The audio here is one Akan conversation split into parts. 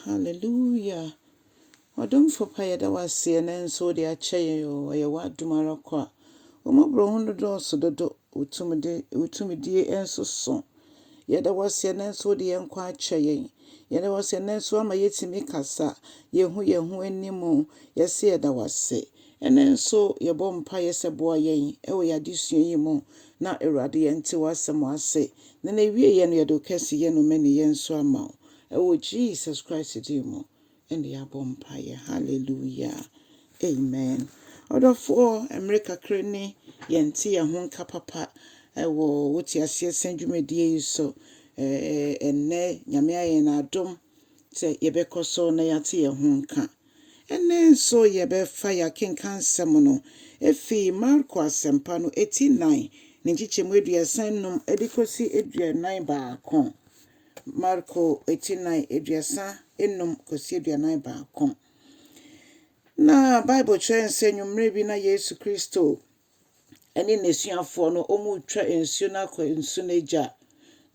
Hallelujah! Ɔdomfo pa yɛda wo ase ɛnɛ nso wode akyɛ yɛn o ɛyɛ w'adom ara kwa. Wo mmɔborɔhunu no dɔɔso dodo, wo tumide wo tumidie nso so. Yɛda wo ase ɛnɛ nso wode yɛn nkwa akyɛ yɛn. Yɛda wo ase ɛnɛ nso ama yɛtumi kasa yɛhu yɛn ho anim o. Yɛse yɛda wo ase. Ɛnɛ nso yɛbɔ mpaeɛ sɛ boa yɛn ɛwɔ yɛn adesua yi mu na Awurade yɛnte w'asɛm ase na n'awieeɛ no yɛde wo kɛseyɛ ne wo mmaninyɛ nso ama wo. Ɛwɔ Jesus Christ din mu na yɛabɔ mpaeɛ. Hallelujah. Amen. Ɔdɔfoɔ, mmerɛ kakra ni yɛnte yɛn ho nka papa wɔ wo teaseɛsɛm dwumadie yi so. Ɛnnɛ Nyame ayɛ yɛn adom sɛ yɛbɛkɔ so na yɛate yɛn ho nka. Ɛnnɛ nso yɛbɛfa yɛn akenkansɛm no ɛfiri Marko Asɛmpa no ɛti nnan ne nkyekyɛmu aduasa nnum de kɔsi aduanan baako. Marko ti nan aduasa nnum kɔsi aduanan baako. Na Bible kyerɛ yɛn sɛ nwummere bi na Yesu Kristo ne n'asuafoɔ no wɔretwa nsuo no akɔ nsu no agya.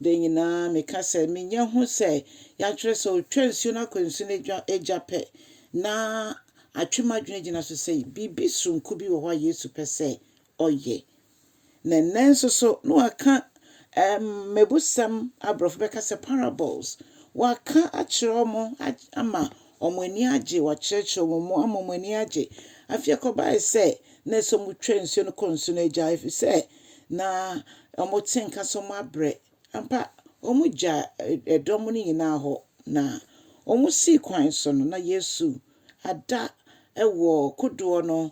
Da nyinaa meka sɛ menya hu sɛ yɛatwerɛ sɛ ɔtwa nsuo no akɔ nsu no agya pɛ na atwe m'adwene gyina so sɛ biribi soronko bi wɔ hɔ a Yesu pɛ sɛ ɔyɛ. Na nnɛ nso so, na wɔaka mmebusɛm, aborɔfo bɛka sɛ parables, wɔaka akyerɛ wɔn ama wɔn ani agye, wɔakyerɛkyerɛ wɔn mu ama wɔn ani agye. Afei ɛkɔbae sɛ na ɛsɛ sɛ wɔtwa nsuo no kɔ nsu no agya efisɛ na wɔte nka sɛ wɔabrɛ. Ampa, wɔgyaa dɔm no nyinaa hɔ na wɔsii kwan so no, na Yesu ada wɔ kodoɔ no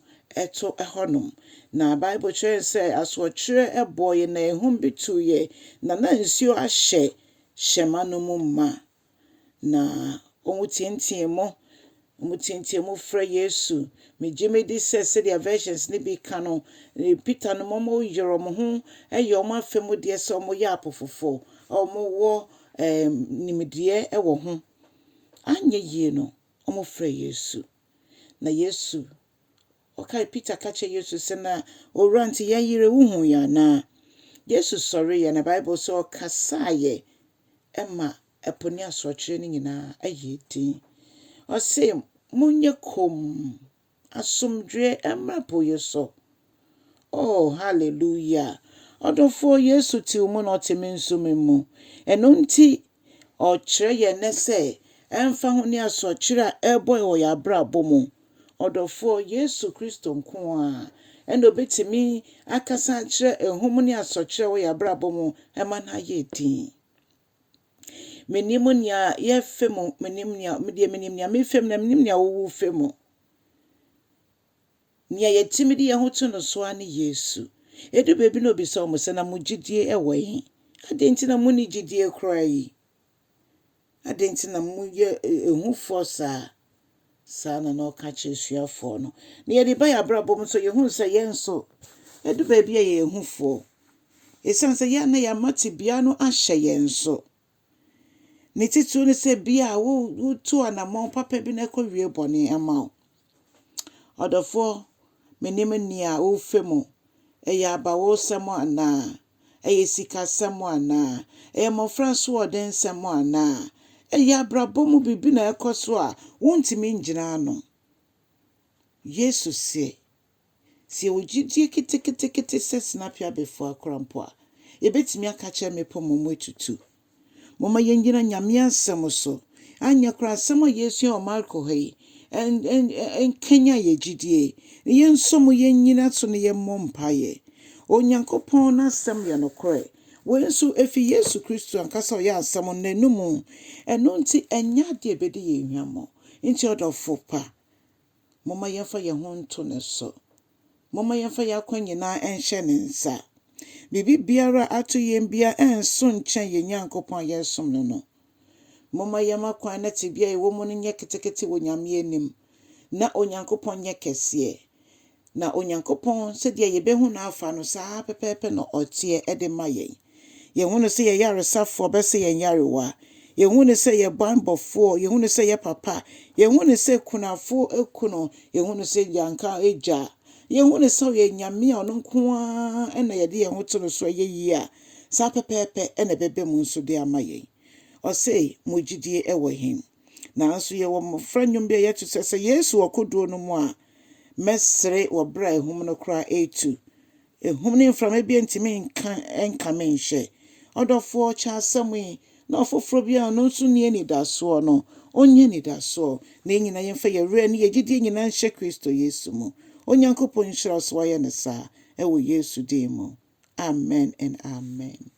to hɔnom. Na Bible kyerɛ yɛn sɛ asoɔkyeɛ bɔɔ yɛn na ahum bi tuiɛ, na na nsuo ahyɛ hyɛmma no mu ma. Na wɔteateaa mu, wɔteateaa mu frɛ Yesu. Megye medi sɛ sɛdeɛ versions no bi ka no, Peter no ma wɔyere wɔn ho yɛ wɔn afa mu deɛ sɛ wɔyɛ apofofoɔ a wɔwɔ nimdeɛ wɔ ho. Anyɛ yie no, wɔfrɛɛ Yesu, na Yesu, ɔkae, Peter ka kyerɛɛ Yesu sɛ, na Owura nti yɛyere, wohuu yɛn anaa? Yesu sɔreeɛ, na Bible sɛ ɔkasaeɛ ma ɛpo ne asorɔkyeɛ no nyinaa yɛɛ dinn. Ɔse, monyɛ komm! Asomdwoeɛ mmra po yi so. Oh, hallelujah! Ɔdɔfoɔ, Yesu te wo mu na ɔte me nso me mu. Ɛno nti, Ɔrekyerɛ yɛn nnɛ sɛ, ɛmfa ho ne asorɔkyeɛ a ɛrebɔ wɔ yɛn abrabɔ mu, ɔdɔfoɔ, Yesu Kristo nko ara na ɔbɛtumi akasa akyerɛ ahum ne asorɔkyeɛ a ɛwɔ yɛn abrabɔ mu ma no ayɛ dinn. Menim nea yɛrefa mu, menim nea medeɛ menim nea merefa mu na menim nea worefa mu. Nea yɛtumi de yɛn ho to no so ara ne Yesu. Edu baabi na obisa wɔn sɛ, na mo gyidie wɔ he? Adɛn nti na mo ni gyidie koraa yi? Adɛn nti na moyɛ ehufoɔ saa? Saa ara na na ɔka kyerɛ asuafoɔ no. Na yɛde ba yɛn abrabɔ mu nso, yɛhunu sɛ yɛn nso, ɛdu baabi a yɛyɛ ahufoɔ. Ɛsiane sɛ yɛn na yɛama tebea no ahyɛ yɛn so. Ne titiriw ne sɛ bia a wotu anammɔn papa bi na ɛkɔwie bɔne ama wo. Ɔdɔfoɔ, menim nea wofa mu. Ɛyɛ abawosɛm anaa? Ɛyɛ sikasɛm anaa? Ɛyɛ mmofra asoɔdensɛm anaa? Ɛyɛ abrabɔ mu biribi na ɛrekɔ so a wontumi ngyina ano? Yesu se, Sɛ yɛwɔ gyidie keteketekete sɛ senapyabefua koraa mpo a, yɛbɛtumi aka akyerɛ mmepɔ ma wɔatutu. Momma yennyina Nyame Asɛm so, anyɛ koraa asɛm a yɛresua wɔ Marko ha yi nkanyan yɛn gyidie, na yɛn nso mo yennyina so na yɛmmɔ mpaeɛ. Onyankopɔn N'Asɛm yɛ nokorɛ. Wei nso, efi Yesu Kristo ankasa a ɔyɛ Asɛm no N'anom. Ɛno nti, ɛnyɛ adeɛ a ɛbɛdi yɛn hwammɔ. Nti ɔdɔfo pa. Momma yɛmfa yɛn ho nto ne so. Momma yɛmfa yɛn akwan nyinaa nhyɛ ne nsa. Biribi biara a ato yɛn biara nnso nkyɛn yɛn Nyankopɔn a yɛresom no no. Momma yɛmma kwan na tebea a yɛwɔ mu no nyɛ ketekete wɔ Nyame anim, na Onyankopɔn nyɛ kɛseɛ. Na Onyankopɔn, sɛdeɛ yɛbɛhu no afa no, saa ara pɛpɛɛpɛ na ɔteɛ de ma yɛn. Yɛhu no sɛ yɛyaresafoɔ bɛsa yɛn nyarewa. Yɛhu no sɛ yɛn banbɔfoɔ. Yɛhu no sɛ yɛn papa. Yɛhu no sɛ kunafoɔ kunu. Yɛhu no sɛ yɛanka agya. Yɛhu no sɛ ɔyɛ Nyame a ɔno nko ara na yɛde yɛn ho to no so ɛyɛ yie a, saa pɛpɛɛpɛ na ɛbɛba mu nso de ama yɛn. Ɔse, Mo gyidie wɔ he? Nanso yɛwɔ mmɔfra nnwom bi a yɛto sɛ, Sɛ Yesu wɔ kodoɔ no mu a, mɛsere wɔ berɛ a ahum no koraa retu. Ahum ne mframa biara ntumi nka nka me nhyɛ. Ɔdɔfoɔ, kyɛ asɛm yi, na ɔfoforɔ biara a ɔno nso nni anidasoɔ no, ɔnnya anidasoɔ. Na yɛn nyinaa yɛmfa yɛn werɛ ne yɛn gyedie nyinaa nhyɛ Kristo Yesu mu. Onyankopɔn nhyira wo sɛ woayɛ no saa, wɔ Yesu din mu, amen and amen.